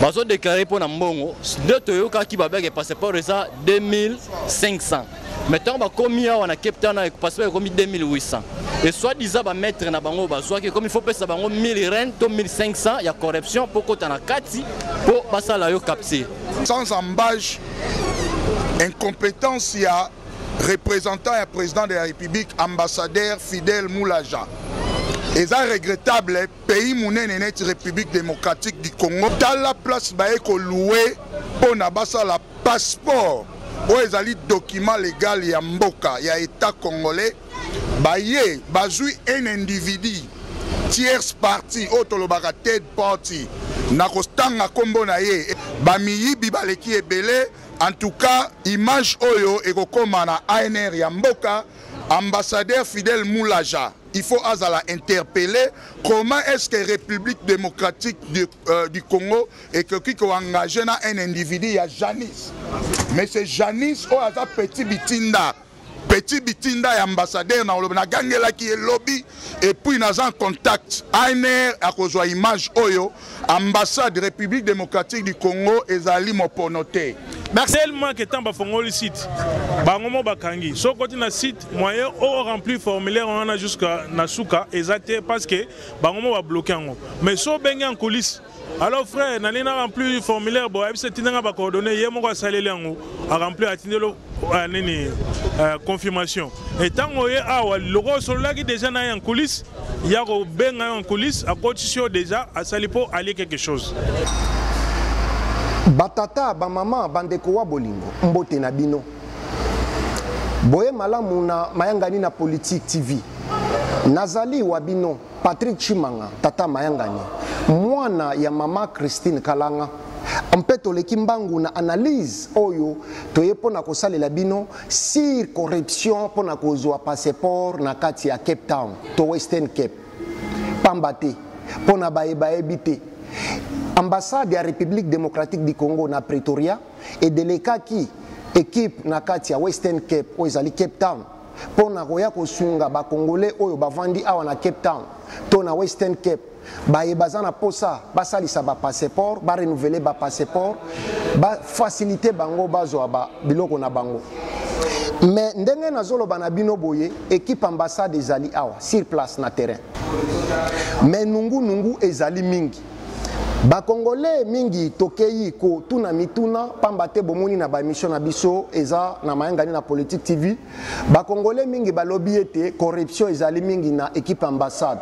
bazo déclarer mpo na mbongo nde toyokaki babeke passeport eza 2500 mais ntango bakomi awa na cape town passeport ekomi 2800 et soit disant bamaître na bango bazwaki ekomi faut pesa bango 1000 reine to 1500 ya corruption mpo kota na kati mpo basala yo capture sans embage incompétence ya représentant ya président de la république ambassadeur fidèle moulaja eza regrettable Pays munene neti Republique Democratique du Congo, tala place baye ko louer pona basala passeport oyo ezali document legal ya mboka ya etat congolais, baye bazui un individu tierce partie oyo tolobaka third party na kotanga kombo na ye, bamiyibi baleki ebele. En tout cas, image oyo ekokoma na ANR ya mboka, ambassadeur Fidel Mulaja. il faut azala interpellé comment est-ce que république démocratique du, euh, du congo ekoki koengage na un individu ya janis mais c'est janis oyo aza petit bitinda petit bitinda ya ambassadeur na olobi nagangelaki ye lobi epuis naza en contact ainer akozwa image oyo Ambassade Republique Democratique du Congo ezali mopono te. tellement que ntango bafongoli site bango mo bakangi soki okoti na site moyen o remplir formulaire wana jusqu'à na suka eza te parce que bango mo babloke yango mais so obengi en coulisse alors frère nani na remplir formulaire boye ayebisi etinda nga bacoordonne ye moko asaleli yango aremplir atindelo euh, nini euh, confirmation etango ye awa loko osololaki déjà na ye en coulisse ya kobenga yo en coulisse akotisi yo deja asali mpo alie quelque chose batata bamama bandeko wa bolingo mbote na bino boye malamu na mayangani na politique tv nazali wa bino patrik chimanga tata mayangani mwana ya mama christine kalanga mpe toleki mbangu na analyse oyo toye mpo na kosalela bino sur corruption mpo na kozwa passeport na kati ya cape town to western cape pamba te mpo na baye bayebi te ambassade ya république démocratique du congo na pretoria edelekaki ekipe na kati ya western cape oyo ezali cape town mpo na koya kosunga bakongole oyo bavandi awa na cape town to na western cape baye baza na posa basalisa bapasseport barenouvele bapasseport bafacilite bango bazwa ba biloko na bango me ndenge nazoloba na bino boye ekipe ambassade ezali awa sur place na terrain me nungunungu ezali mingi bakongole mingi tokei kotuna mituna mpamba te bomoni na baemission na biso eza na mayangani na politique tv Ba congolais mingi balobi ete corruption ezali mingi na equipe ambassade.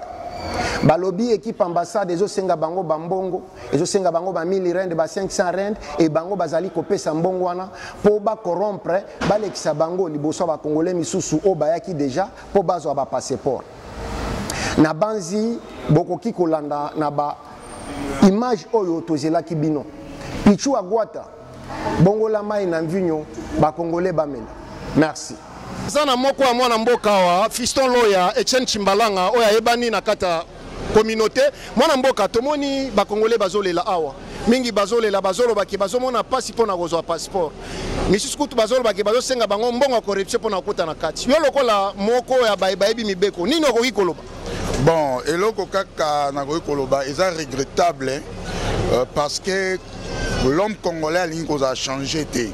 balobi ekipe ambassade ezosenga bango bambongo ezosenga bango ba 1000 rand ba 500 rand e bango bazali kopesa mbongo wana mpo bacorompre balekisa bango liboso ya bakongole misusu oyo bayaki deja mpo bazwa bapasseport na banzi bokoki kolanda na ba image oyo tozelaki bino pichu agwata bongola mai na mvinyo bakongole bamela merci aza na moko ya mwana mboka awa fiston loya etienne chimbalanga oyo ayebani na kati ya communauté mwana mboka tomoni bakongole bazolela awa mingi bazolela bazoloba ke bazomona mpasi mpo na kozwa passeport misusu kutu bazoloba ke bazosenga bango mbongo ya corruption mpo na kokota na kati yo lokola moko ya baye bayebi mibeko nini okoki koloba Bon, eloko kaka nakoki koloba eza regrettable hein? euh, parce que l'homme congolais alingi kozala change te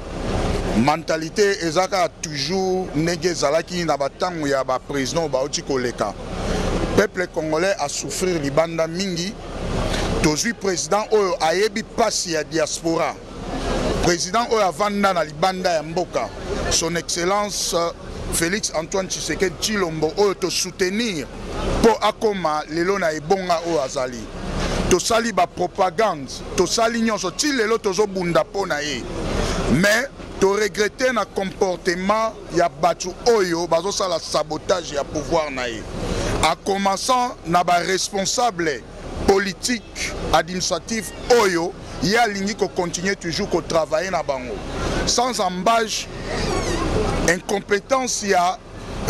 mentalité eza kaka toujours ndenge ezalaki na batango ya baprésident bauti koleka peuple congolais asouffrir libanda mingi tozwi président oyo ayebi mpasi ya diaspora President oyo avanda na libanda ya mboka, son excellence euh, Felix Antoine Tshisekedi Tshilombo oyo to soutenir mpo akoma lelo na ebonga oyo azali. Tosali ba propagande, tosali nyonso ti lelo tozobunda mpo na ye. Mais to regretter na comportement ya bato oyo bazosala sabotage ya pouvoir na ye. A commençant na ba responsable politique administratif oyo ye alingi ko continuer toujours ko travailler na bango sans embage incompétence ya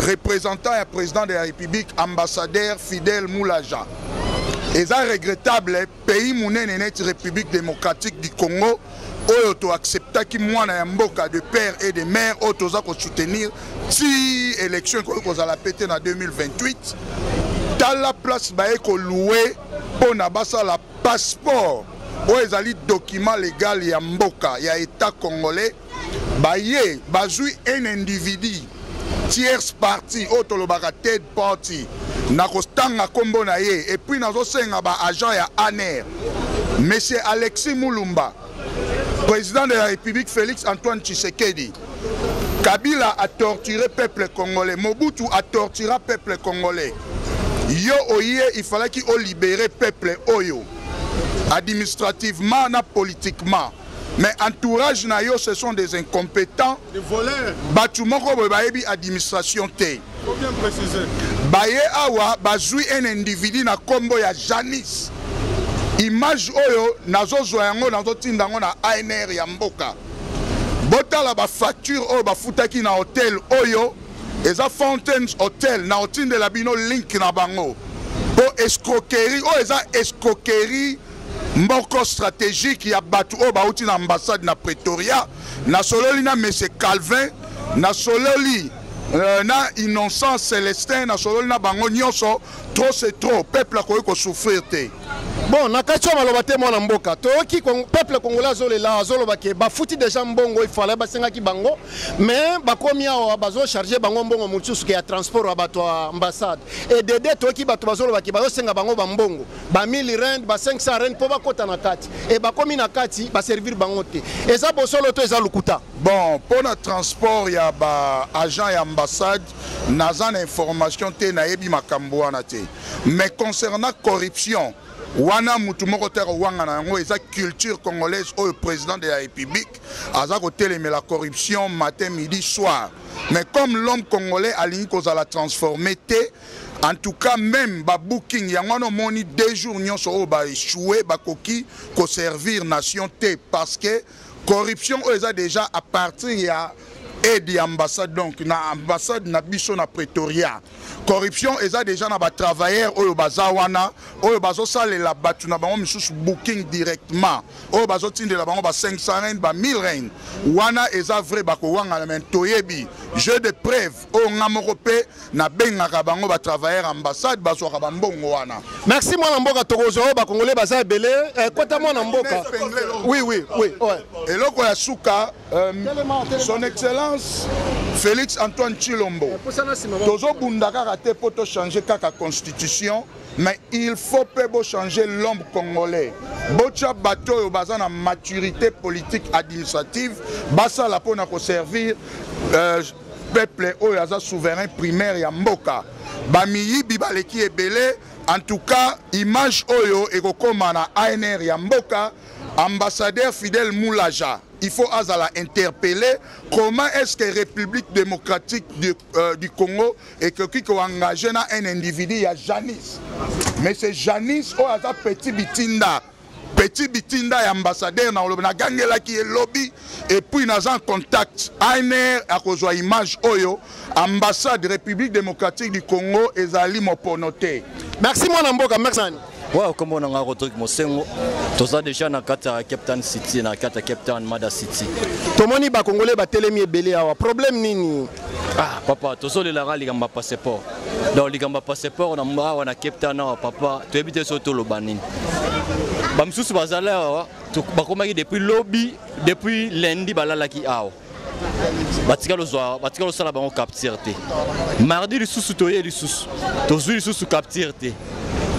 représentant ya président de la république ambassadeur fidèle moulaja eza regrettable pays monene neti république démocratique du congo oyo to acceptaki mwana ya mboka de père et de mère oyo toza ko soutenir ti élection ekoki kozala pe te na 2028 tala place baye koloue mpo na basala passeport oyo ezali document legal ya mboka ya etat congolais baye bazwi un individu tierce partie oyo tolobaka third party nakotanga nkombo na ye epuis nazosenga baagent ya aner monsieur alexis mulumba président de la république félix antoine tshisekedi kabila atorture peuple congolais mobutu atortura peuple congolais yo oye ifalaki olibere peuple oyo administrativement na politiquement Mais entourage na yo ce sont des incompétents. Des voleurs. Batu moko boye bayebi administration te. Faut bien préciser. Baye awa bazui un individu na kombo ya Janice. Image oyo nazozwa yango nazotinda yango na ANR ya mboka. Botala ba facture oyo bafutaki na hotel oyo eza Fountains Hotel na otindela bino link na bango. Po escroquerie oyo eza escroquerie moko strategique ya bato oyo bauti na ambassade na pretoria nasololi na monsieur calvin nasololi euh, na innocent celestin nasololi na bango nyonso trop c'est trop peuple akoki kosouffrir te bon na kati ya maloba te mwana mboka toyoki peuple congolais azolela azoloba ke bafuti deja mbongo ifale basengaki bango mais bakomi awa bazocharge bango mbongo mosusu ke ya transport ya bato ya ambassade edede toyoki bato bazoloba ke bazosenga bango bambongo ba 1000 rand ba 500 rand mpo bakota na kati e bakomi na kati baservir bango te eza bosolo to eza lokuta bon mpo na transport ya ba agent ya ambassade naza na information te nayebi makambo wana te mais concernant corruption wana mutu moko te akowangana yango eza culture congolaise oyo président de la république aza kotelemela corruption matin midi soir mais comme l'homme congolais alingi kozala transformé te En tout cas, même ba booking, yango wana omoni deux jours nyonso oyo ba échoué bakoki ko servir nation te parce que corruption oyo eza déjà à partir ya aide ya ambassade donc na ambassade na biso na Pretoria. Corruption eza déjà na ba travailleurs oyo baza wana oyo bazosalela bato na bango misusu booking directement oyo bazotindela bango ba 500 reine ba 1000 reine wana eza vrai bakowangana me toyebi jeu de preuve oyo nga moko pe nabengaka bango ba travailleur ambassade bazwaka bambongo wana merci mwana mboka tokozwa oyo bakongole baza ebele eh, kota mwana mboka oui, oui, oui, ouais. eloko ya suka euh, son excellence félix antoine chilombo eh, tozobunda kaka te mpo tochange kaka constitution mais il faut mpe bochanger l'homme congolais botya bato oyo baza na maturité politique administrative basala mpo na koservir euh, peuple oyo aza souverain primaire ya mboka bamiyibi baleki ebele en tout cas image oyo ekokoma na anr ya mboka ambassadeur fidèle moulaja il faut azala interpellé comment est-ce que république démocratique du, euh, du congo ekoki koengage na un individu ya janice mais c'est janice oyo aza petit bitinda Petit Bitinda ya ambassadeur na olobi na gangelaki ye lobi et puis naza en contact ANR akozwa image oyo ambassade République démocratique du Congo ezali mopono te. Merci mwana mboka merci. Wow, kombo na ngai Rodrigue Mosengo toza deja na kati ya Cape Town City na kati ya Cape Town Mada City. Tomoni ba Congolais batelemi ebele awa problème nini? Ah papa tozolelaka likambo ya passeport donc likambo ya passeport na awa na cape town awa papa toyebi te so toloba nini bamosusu bazali awa bakomaki depuis lobi depuis lundi balalaki awa batikali ozwa batikali osala bango capture te mardi lisusu toye lisusu tozwi lisusu capture te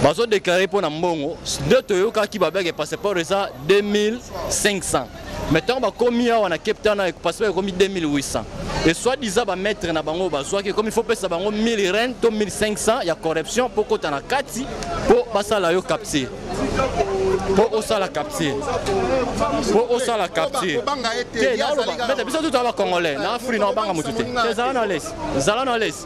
bazodeklare mpo na mbongo nde toyokaki babeke passeport eza 2500 mais ntango bakomi awa na cape town passeport ekomi 2800 et soit disant bamaître na bango bazwaki ekomi faut pesa bango 1000 reine to 1500 ya corruption mpo kota na kati mpo basala yo capture mpo osala capture mpo osala capture te naloba biso tutala bacongolais na afrique na obanga motu te te zala na lesi zala na lesi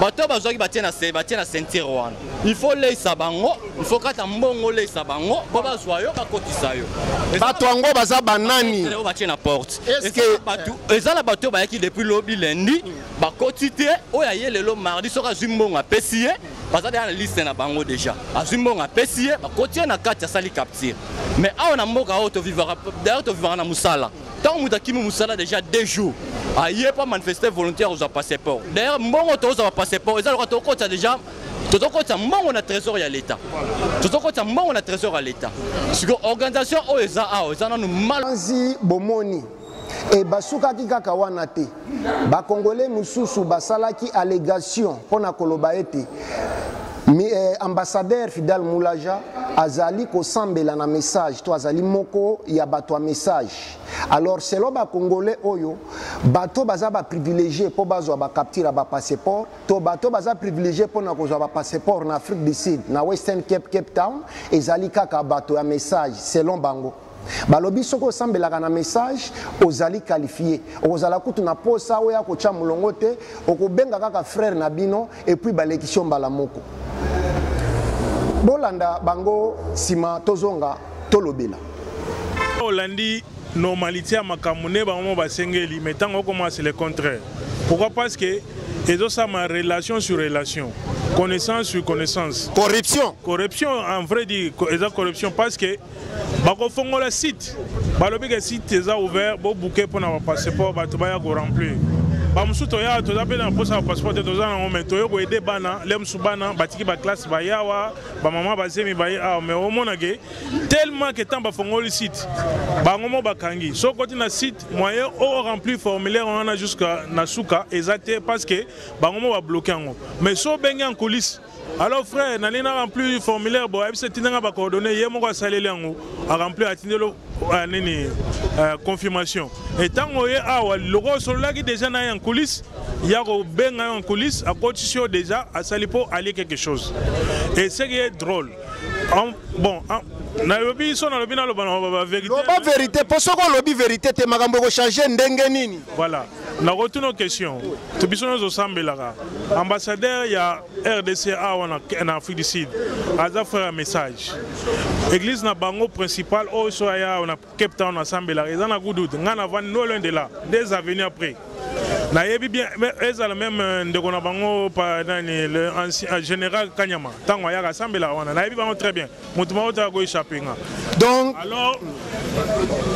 bato oyo bazwaki batie na se batie na ceinture wana il faut oleisa bango il faut kata mbongo oleisa bango mpo bazwa yo bakotisa yo bato yango baza banani oyo batie na porte eza na bato oyo bayaki depuis lobi lendi bakoti te oyo aye lelo mardi soki azwi mbongo apesi ye baza deya na liste na bango deja azwi mbongo apesi ye bakoti ye na kati asali capture mais awa na mboka oyo tovivaka dailleurs tovivaka na mosala Tant moto akimi mosala déjà deux jours aye ah, mpo manifeste volonté ya kozwa passeport d'ailleurs mbongo tokozwa ba passeport eza lokola tokokotisa déjà tozokotisa mbongo na trésor ya leta tozokotisa mbongo na trésor ya leta siko organisation oyo eza awa eza nanu mal bomoni ebasukaki kaka wana te Ba Congolais mosusu basalaki allegation mpo na koloba ete eh, ambassadeur Fidel Mulaja azali kosambela na message to azali moko ya bato ya message alors selon bacongolais oyo bato baza baprivilégie mpo bazwa bacapture ya bapasseport to bato baza privilégie mpo na kozwa bapasseport na afrique du sud na western cape cape town ezali kaka bato ya message selon bango balobi soki osambelaka na message ozali qualifie okozala kutu na posa oya kotya molongo te okobenga kaka frère na bino epuis balekisi yo mbala moko bolanda bango nsima tozonga tolobela olandi normalité ya makambo nde bango basengeli mais ntango okoma c'est le contraire pourquoi parce que ezosama relation sur relation connaissance sur connaissance corruption corruption en vrai dire eza corruption parce que bakofongola site balobi ke site eza ouvert bobuke mpo na bapasseport bato baya koremplir bamosusu toya toza mpe na mposa ya passeport te toza nango mai toye koyede bana le mosusu bana batiki baklasse baye awa bamama bazemi baye awa mai omonake tellement ke ntango bafongoli site bango mo bakangi soki koti na site moyen o remplir formulaire wana jusqu'à na suka eza te parce que bango mo babloke yango mais so obenge en coulisse Alo frère nalingi na remplir formulaire boye biso etinda nga bacoordonne ye moko asaleli yango aremplir atindelo euh, nini euh, confirmation etango oye awa loko osololaki déjà na ye en coulisse ya kobenga yo en coulisse akotisi yo déjà asali mpo alie quelque chose et ce qui est drôle en, bon en, nalobi biso nalobi naloba na baverité loba verité mpo soki olobi verité te makambo ekochange ndenge nini voilà nakotuna question to biso nyonso osambelaka ambassadeur ya rdc awa na afrique du sud aza frère ya message église na bango principal oyo so aya awa na cape town asambelaka eza na gudut ngai navandi no loin de là des avenues après nayebi bien ezala meme euh, ndeko na bango nani le euh, général kanyama ntango ayaka asambelaka wana nayebi bango très bien moto moko te ako echappe nga donc alors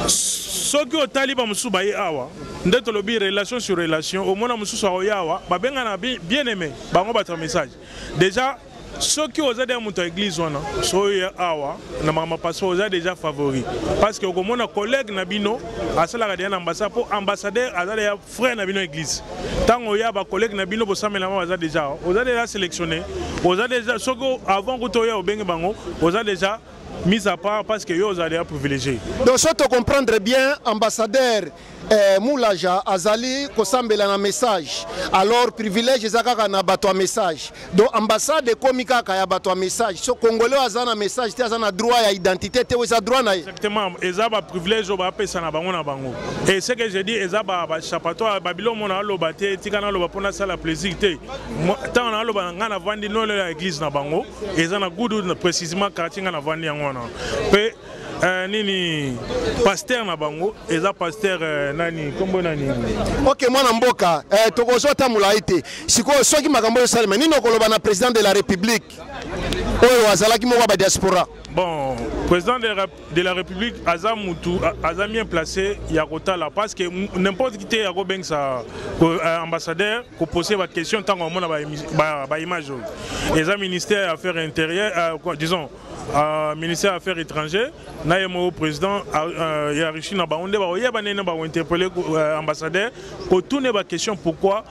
soki otali bamosusu baye awa nde tolobi relation sur relation omona mosusu aoya awa babengana bien aimé bango batra message déjà soki oza deja moto ya église wana soye awa na makambo paso oza deja favori parce que okomona collègue na bino asalaka deja na ambassade mpo ambassadeur aza deja frère na bino église tango ya ba collègue na bino bosamelama baza déjà oza déjà sélectionné oza déjà soki avant kuta oya obenge bango oza déjà mise à part parce que yo ozali ya privilégié donc so tocomprendre bien ambassadeur eh, mulaja azali kosambela na message alors privilège eza kaka na bato ya message donc ambassade ekomi kaka ya bato ya message so congolais oyo aza na message te aza na droit ya identité te oyo eza droit na ye exactement eza baprivilège oyo bapesa na bango na bango e ce que je dis eza bachapatoire babilo mona aloba te tika naloba mpo nasala plaisir te ntango naloba na ngai navandi nolelo ya église na bango eza na gudu précisement quartier ngai navandi yango wana mpe eh, nini pasteur na bango eza pasteur eh, nani kombo nani ok mwana mboka eh, tokozwa ata molai te sikoyo soki makambo oyo esalema nini okoloba na président de la république oyo azalaki moko ya badiaspora bon président de la, de la république aza mutu aza bien placé ya kotala parce que n'importe qui te ya kobengisa euh, ambassadeur kopose baquestion ntango amona baimage oyo eza ministère ya affaire intérieure euh, disons Uh, ministère ya affaires étrangères na ye moko président uh, ya russie na bango nde bakoyeba ndenge bakointerpele uh, euh, ambassadeur kotune baquestion pourquoi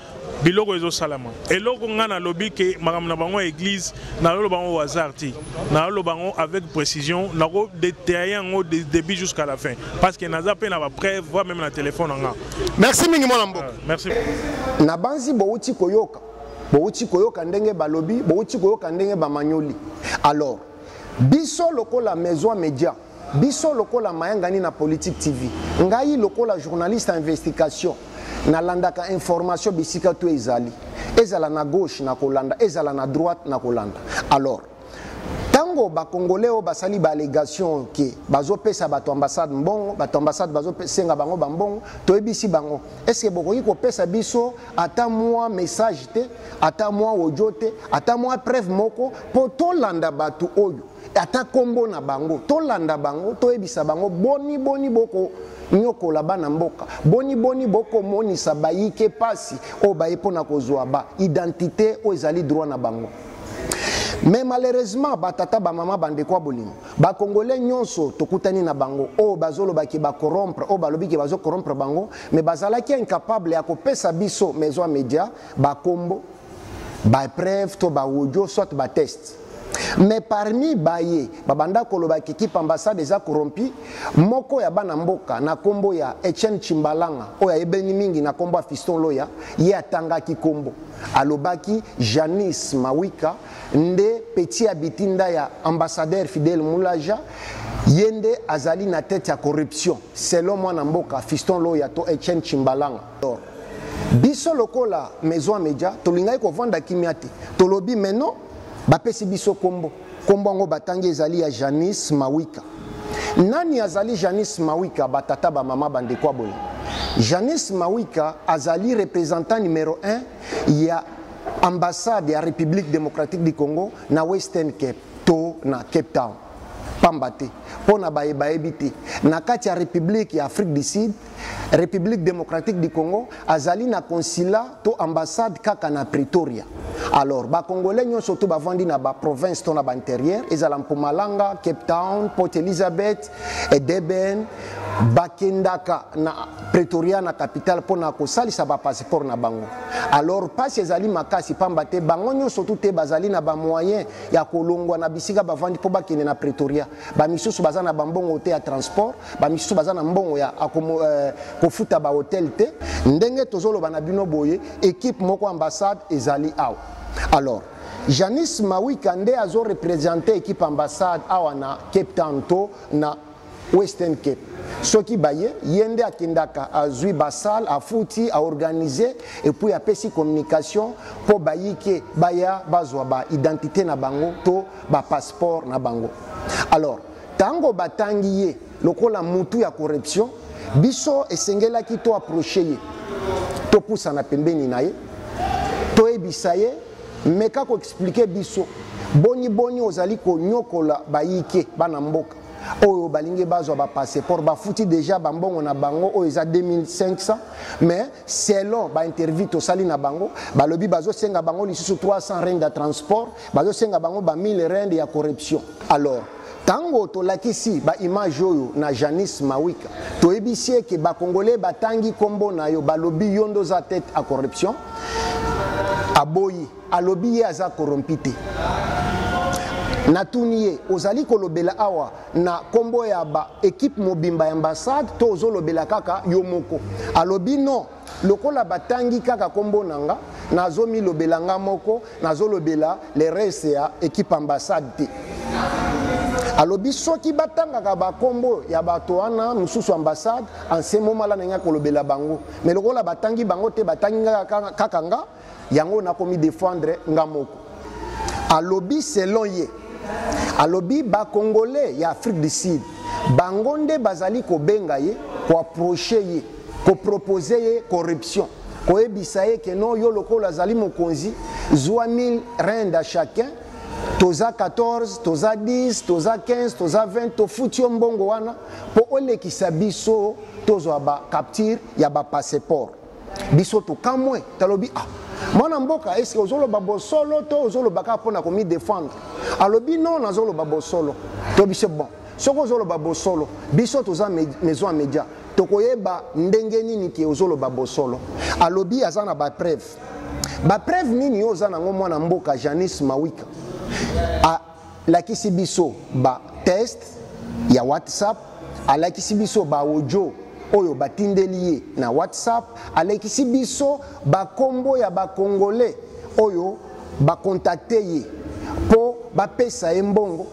biloko ezosalama eloko ngai nalobi ke makambo na bango ya église naloloba yango hasard te naloloba yango avec précision nako detaille yango de début jusqu'à la fin parce que naza mpe na bapreuve voi meme na telefone na nga merci mingi mwana mboka merci nabanzi bowuti koyoka bowuti koyoka ndenge balobi bowuti koyoka ndenge bamanyoli alors biso lokola maison media biso lokola mayangani na politique tv ngai lokola journaliste ya investigation nalandaka information bisika to ezali ezala na gauche na kolanda ezala na droite na kolanda alors ntango bakongole oyo basali baallegation ke bazopesa bato ambassade mbongo bato ambassade bazosenga bango bambongo toyebisi bango estce bokoki kopesa biso ata mwa message te ata mwa audio te ata mwa preuve moko mpo tolanda bato oyo ata nkombo na bango tolanda bango toyebisa bango boni boni boko nyokola bana mboka boni boni bokomonisa bayike mpasi oyo baye mpo na kozwa ba identité oyo ezali droit na bango mais malheureusement batata bamama bandeko ya bolingo bacongolais nyonso tokutani na bango oyo bazoloba ke bacorompre oyo balobi ke bazocorompre bango mais bazalaki incapable ya kopesa biso maison ya média bakombo bapreuve to baaudio soit bateste mais parmi baye babanda koloba kikipe ambassade eza corrompi moko ya bana mboka na nkombo ya etienne chimbalanga oyo ayebeni mingi na nkombo ya fiston loya ye atangaki nkombo Alobaki Janice Mawika nde petit ya bitinda ya ambassadeur Fidel Mulaja ye nde azali na tete ya corruption selon mwana mboka Fiston Loya to Etienne Chimbalanga. Biso lokola Maison Media tolingaki kovanda kimia te tolobi mais non bapesi biso kombo. Nkombo yango batangi ezali ya Janice Mawika. Nani azali Janice Mawika? Batata, bamama, bandeko aboni. Janice Mawika azali representant numero 1 ya ambassade ya République démocratique du Congo na Western Cape to na Cape Town. pamba te mpo na baye bayebi te na kati ya république ya afrique du sud République démocratique du Congo azali na consulat to ambassade kaka na Pretoria. Alors ba congolais nyonso to bavandi na ba province to na ba intérieur ezala Mpumalanga, Cape Town, Port Elizabeth, Edeben bakendaka na Pretoria na capitale mpo na kosalisa ba passeport na bango. Alors pasi ezali makasi pamba te bango nyonso tu te bazali na ba moyen ya kolongwa na bisika bavandi mpo bakende na Pretoria. Ba misusu baza na bambongo te ya transport ba misusu baza na mbongo ya akomo, eh, kofuta ba hotel te ndenge tozoloba na bino boye ekipe moko ambassade ezali awa alors janis mawika nde azo represente ekipe ambassade awa na cape town to na western cape soki baye ye nde akendaka azwi basale afuti aorganize epuis apesi communication mpo bayike baya bazwa baidentité na bango to bapasseport na bango alors Tango batangi ye lokola mutu ya corruption, biso esengelaki to approcher ye, topusana pembeni na ye, toyebisa ye meka ko expliquer biso boni boni ozali konyokola bayike bana mboka oyo balingi bazwa ba passeport bafuti deja bambongo na bango oyo eza 2500 mais selon bainterview tosali na bango balobi bazosenga bango lisusu 300 rende ya transport bazosenga bango ba 1000 rende ya corruption Alors, tango tolakisi ba image oyo na Janice Mawika, toyebisi ye ke ba congolais batangi kombo na yo, balobi yo nde oza tete à corruption. Aboyi, alobi ye aza corrompu te. natuni ye ozali kolobela awa na kombo ya ba ekipe mobimba ya ambassade to ozolobela kaka yo moko alobi non lokola batangi kaka kombo na nga nazo milobela nga moko nazo lobela le reste ya equipe ambassade te alobi soki batangaka bakombo ya bato wana mosusu ambassade anse momala na ngai kolobela bango me lokola batangi bango te batangi kaka nga yango nakomi defendre nga moko alobi selon ye alobi bakongole ya afrique du sud bango nde bazali kobenga ye koaproche ye kopropose ye corruption koyebisa ye ke no yo lokola azali mokonzi zwa 1000 rend a chacun toza 14 toza 10 toza 15 toza 20 tofuti yo mbongo wana mpo olekisa biso tozwa bacapture ya bapasseport biso tokamwe talobi ah mwana mboka eske ozoloba bosolo to ozoloba kaka mpo na komidefendre alobi non nazoloba bosolo to biso bon soki ozoloba bosolo biso toza maison ya média tokoyeba ndenge nini ke ozoloba bosolo alobi aza na bapreuve bapreuve nini yo oza nango mwana mboka janis mawika alakisi biso ba test ya whatsapp alakisi biso ba audio oyo batindeli ye na whatsapp alakisi biso bakombo ya bakongole oyo bakontakte ye mpo bapesa ye mbongo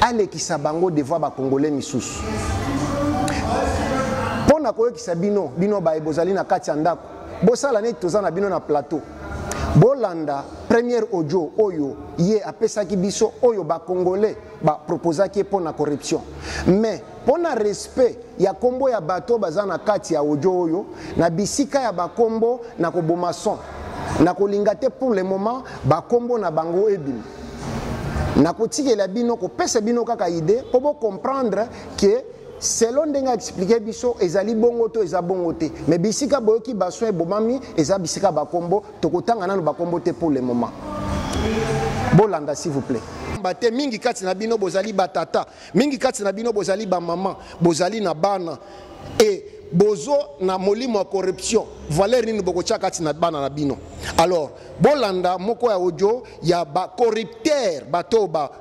alekisa bango devoi bakongole misusu mpo na koyokisa bino bino baye bozali na kati ya ndako bosala neti toza na bino na plateau bolanda première audio oyo ye apesaki biso oyo bacongolais baproposaki ye mpo na corruption mais mpo na respect ya nkombo ya bato baza na kati ya audio oyo na bisika ya bakombo na koboma son nakolinga te pour le moment bakombo na bango ebima nakotikela bino kopesa bino kaka idée mpo bocomprendre ke selon ndenge explique biso ezali bongo to eza bongo te mais bisika boyoki bason ebomami eza bisika bakombo tokotanga nano bakombo te pour le moment bolanda s'il vous plaît pamba te mingi kati na bino bozali batata mingi kati na bino bozali bamama bozali na bana e bozo na molimo ya corruption valeur nini bokotya kati na bana na bino alors bolanda moko ya audio ya bacorrupteur bato ba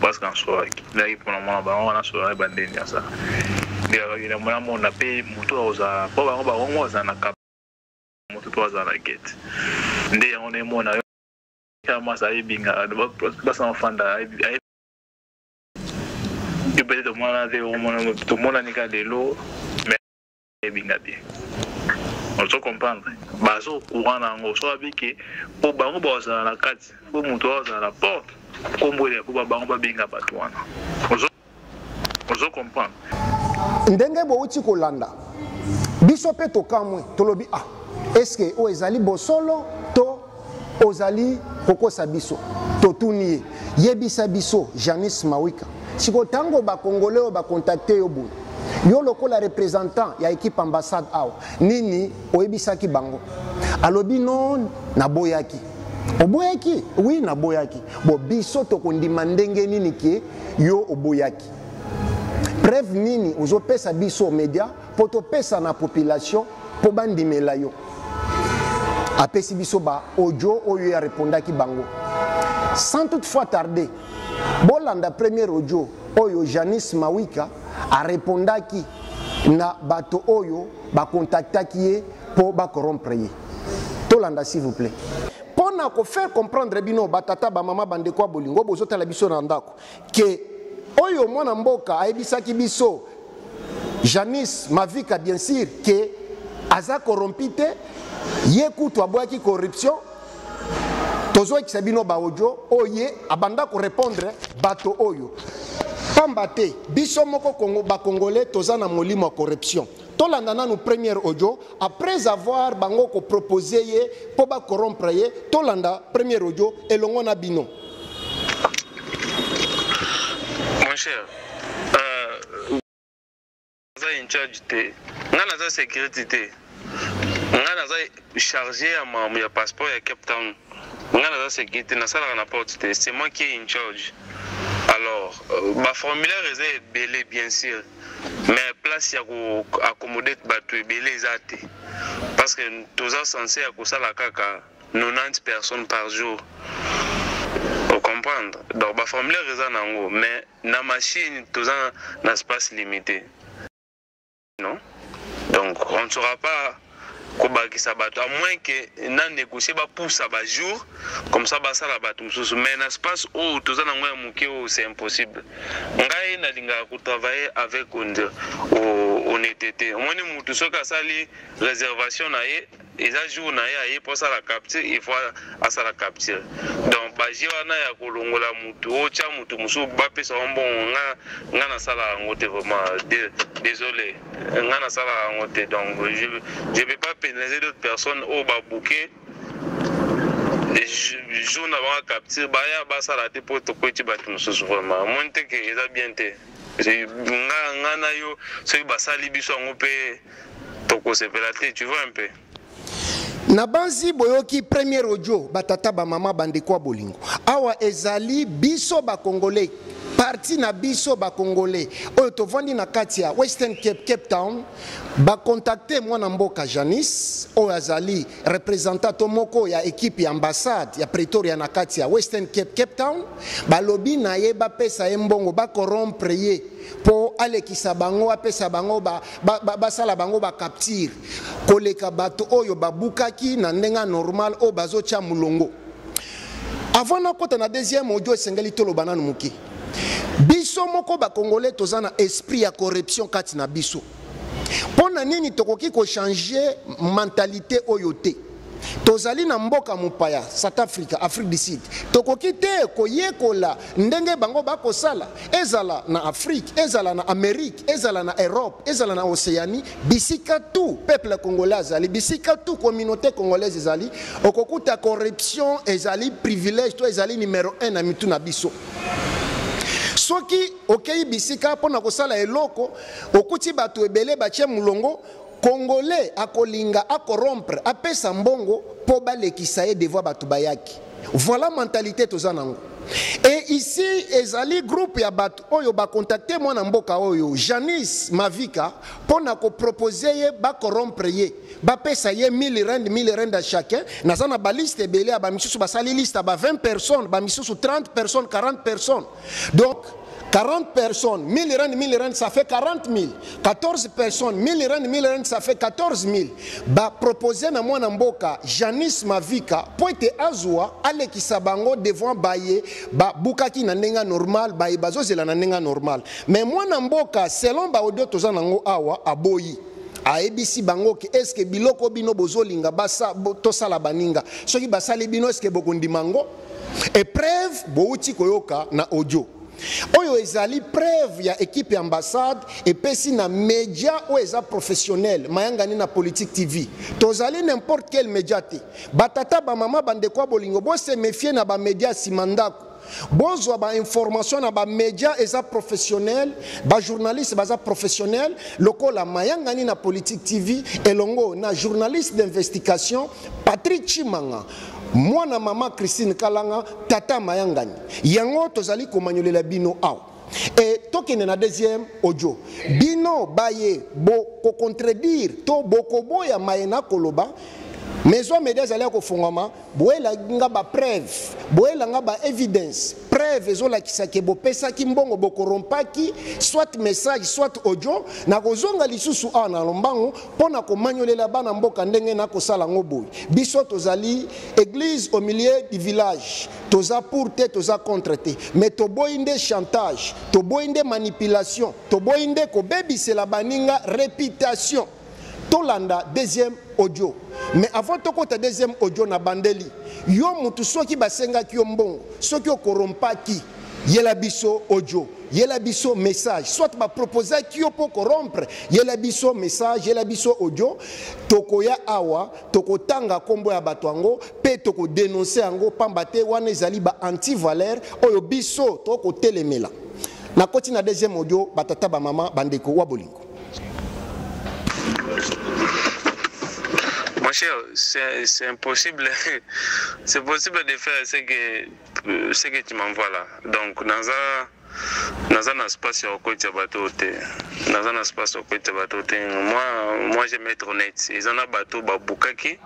Parce qu'en soi, là, il prend mon baron, on a sur la bande de ça. Il y a eu la moyen, on a payé, moto, on a, pas baron, baron, on a, on a, moto, on a, la guette. Ndé, on est mon, on a, kama sa ebinga basa mafanda yo peut-être omwana te omonani ka lelo eyebi nga bien ozo comprendre baza au courant na yango so abi ke mpo bango bazala na kati mpo moto oyo azala na porte nkombo ele yakoba bango babenga bato wana ozo comprendre ndenge bouti kolanda biso mpe tokamwe tolobi ah eske oyo ezali bosolo to ozali kokosa biso totuni ye yebisa biso janice mawika sikoyo ntango bakongole oyo bakontakte yo boye yo lokola représentant ya équipe ambassade awa nini oyebisaki bango alobi non naboyaki oboyaki wi naboyaki bo biso tokondima ndenge nini ke yo oboyaki preuve nini ozopesa biso media mpo topesa na population mpo bandimela yo apesi biso ba audio oyo ya repondaki bango sans toutefois tarder bolanda premier audio oyo janice mawika arepondaki na bato oyo bakontaktaki ye mpo bakorompre ye tolanda s'il vous plaît mpo na kofaire comprendre bino batata bamama bandeko ya bolingo bozotala biso na ndako que oyo mwana mboka ayebisaki biso Janice Mavika bien sûr que aza corrompu te ye kutu aboyaki corruption tozoyekisa bino baodio oyo ye abanda korepondre bato oyo pamba te biso moko bakongole toza na molimo ya corruption tolanda nanu première audio après avoir bango ko proposer ye po ba corrompre ye tolanda première audio elongo na bino mon cher euh, naza euh, incharge te ngai naza sécurité te ngai naza chargé ya mamu ya passeport ya cape town ngai naza sécurité nasalaka na porte te c'est moi qui est incharge alors euh, baformulaire eza ebele bien sûr mais place ya ko accommoder bato ebele eza te parce que toza sense ya kosala kaka 90 personnes par jour ocomprendre donc baformulaire eza na yango mais na machine toza na space limité non donc on ne saura pas kobakisa bato à moins que na négocier ba poussa ba jour comme ça basala bato mosusu mais na space oyo toza nango ya moke oyo c'est impossible ngai nalingaka kotravailler avec honnêteté omoni motu soki asali réservation na ye eza jour na ye aye mpo asala capture il faut asala capture donc baje wana ya kolongola motu otya motu mosusu bapesa yango mbongo nga nasala yango te vraiment désolé nga nasalaka yango te donc je, je peux pas pénaliser d'autres personnes oyo babuke jour na bango capture baya basala te mpo tokweti bato mosusu vraiment omoni te ke eza bien te nga na yo soki basali biso yango mpe tokosepela te tu vois un peu nabanzi boyoki premier audio batata bamama bandeko ya bolingo awa ezali biso bakongole parti na biso bakongole oyo tovandi na kati ya western cape cape town bakontakte mwana mboka janice oyo azali representant to moko ya ekipe ya ambassade ya pretoria na kati ya western cape cape town balobi na ye bapesa ye mbongo bakorompre ye mpo alekisa bango apesa bango basala ba, ba, ba bango bacaptire koleka bato oyo babukaki na ndenge ya normal oyo bazotya molongo avant nakota na deuxième audio esengeli toloba nanu moke biso moko bakongole toza na esprit ya corruption kati na biso mpo na nini tokoki kochange mentalite oyo te tozali na mboka mopaya south africa afrique du sud tokoki te koyekola ndenge bango bakosala ezala na afrique ezala na amerique ezala na europe ezala na océanie bisika tu peuple congolais azali bisika tu communauté congolaise ezali okokuta corruption ezali privilège to ezali numero 1 na mitu na biso soki okei bisika mpo na kosala eloko okuti bato ebele batye molongo Congolais akolinga a corrompre apesa mbongo po balekisa ye devant batu bayaki. Voilà mentalite toza nango. Et ici ezali groupe ya batu oyo ba contacter mwana mboka oyo Janice Mavika pona ko proposer ye ba corrompre ye bapesa ye 1000 rand 1000 rand à chacun naza na ba liste ebele ya ba misusu basali liste ya ba 20 personnes ba misusu 30 personnes 40 personnes Donc, 40 personnes, 1000 rand, 1000 rand, ça fait 40 000. 14 personnes, 1000 rand, 1000 rand, ça fait 14 000. Bah, proposer na moi mboka, Janice Mavika, pour être azwa, allez qui sabango devant baye, bah, bukaki na nenga normal, baye bazo zela na nenga normal. Mais moi mboka, selon ba audio toza nango awa, aboyi. ayebisi bango ke eske biloko bino bozolinga tosala baninga soki basali bino eske bokondima yango epreuve bowuti koyoka na audio oyo ezali preuve ya ekipe ya ambassade epesi na media oyo eza professionnel mayangani na politique tv tozali n'importe quel media te batata bamama bandeko ya bolingo bose mefie na bamedia ya nsima ndako bozwa bainformation na bamedia eza professionnel bajournaliste baza professionnel lokola mayangani na politique tv elongo na journaliste d'investigation patrick chimanga Mwana mama Christine Kalanga, tata Mayangani. Yango tozali komanyolela bino awa. Et tokende na deuxième audio. Bino baye bo ko contredire to bokoboya maye na koloba maison media ezali ya kofungwama boyelanga ba preuve boyelanga ba evidence preuve ezolakisa ke bopesaki mbongo bokorompaki soit message soit audio nakozonga lisusu awa na lombango Mpo na komanyolela bana mboka ndenge na kosala yango boye, biso tozali eglise au milieu du village, toza pour te, toza contre te, mais toboyi nde chantage, toboyi nde manipulation, toboyi nde kobebisela baninga reputation. Tolanda deuxième audio. Mais avant tokota deuxième audio na bandeli, yo mutu soki basengaki yo mbongo, soki okorompaki Yela biso audio, yela biso message, soit ba proposaki yo po ko rompre, yela biso message, yela biso audio, tokoya awa, tokotanga kombo ya bato yango pe toko denoncer yango pamba te wana ezali ba anti valeur oyo biso toko telemela. Nakoti na deuxième audio, ba tata ba mama ba ndeko wa bolingo. Mon cher, c'est impossible, c'est possible de faire ce que Euh, ce que tu m'envoies là donc naza naza na space ya kokotisa bato oyo te naza na space ya kokotisa bato te moi moi je mettre honnête eza na bato babukaki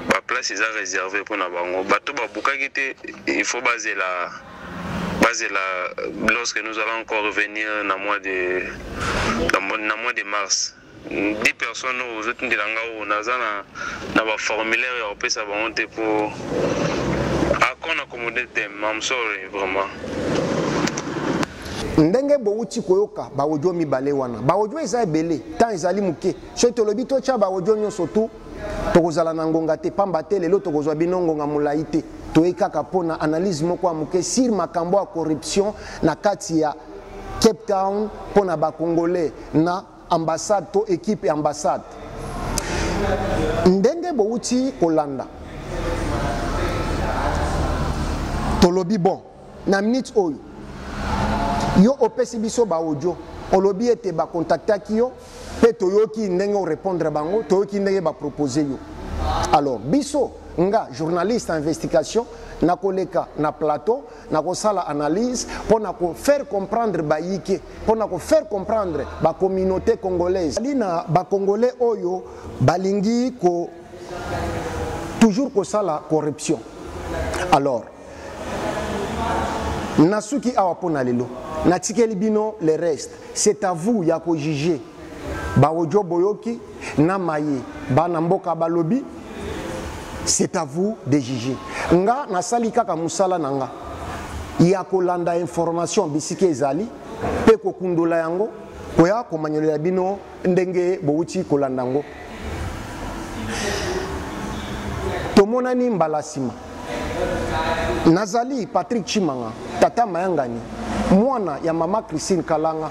baplace eza réservé mpo na bango bato babukaki te il faut bazela bazela lorsque nous allons encore revenir na mois de na mois de mars 10 personnes oyo ozotindela nga oyo naza na na ba formulaire ya kopesa bango te po akona accommode te mam sorry vraiment ndenge bowuti koyoka baodio mibale wana baodio eza ebele ntan ezali moke soki tolobi totya baodio nyonso tu tokozala na ngonga te mpamba te lelo tokozwa bino ngonga molai te toyei kaka mpo na analyse moko ya moke sur makambo ya corruption na kati ya cape town mpo na bacongolais na Ambassade to equipe ya ambassade. Ndenge bowuti kolanda. Tolobi bon na minute oyo yo opesi biso ba audio olobi ete ba contactaki yo mpe toyoki ndenge orepondre bango toyoki ndenge bapropose yo alors biso nga journaliste ya investigation nakoleka na plateau na kosala analyse mpo na kofaire comprendre bayike mpo na kofaire comprendre bacommunauté congolaise ali na bacongolais oyo balingi ko toujours kosala corruption alors nasuki awa mpo na lelo natikeli bino le reste c'est à vous ya kojuge Ba audio boyoki na maye bana mboka balobi c'est à vous de juger. Nga nasali kaka musala na nga ya kolanda information bisika ezali mpe kokundola yango koya komanyolela bino ndenge bowuti kolanda yango. Tomonani mbala nsima. Nazali Patrick Chimanga, tata mayangani, mwana ya mama Christine Kalanga.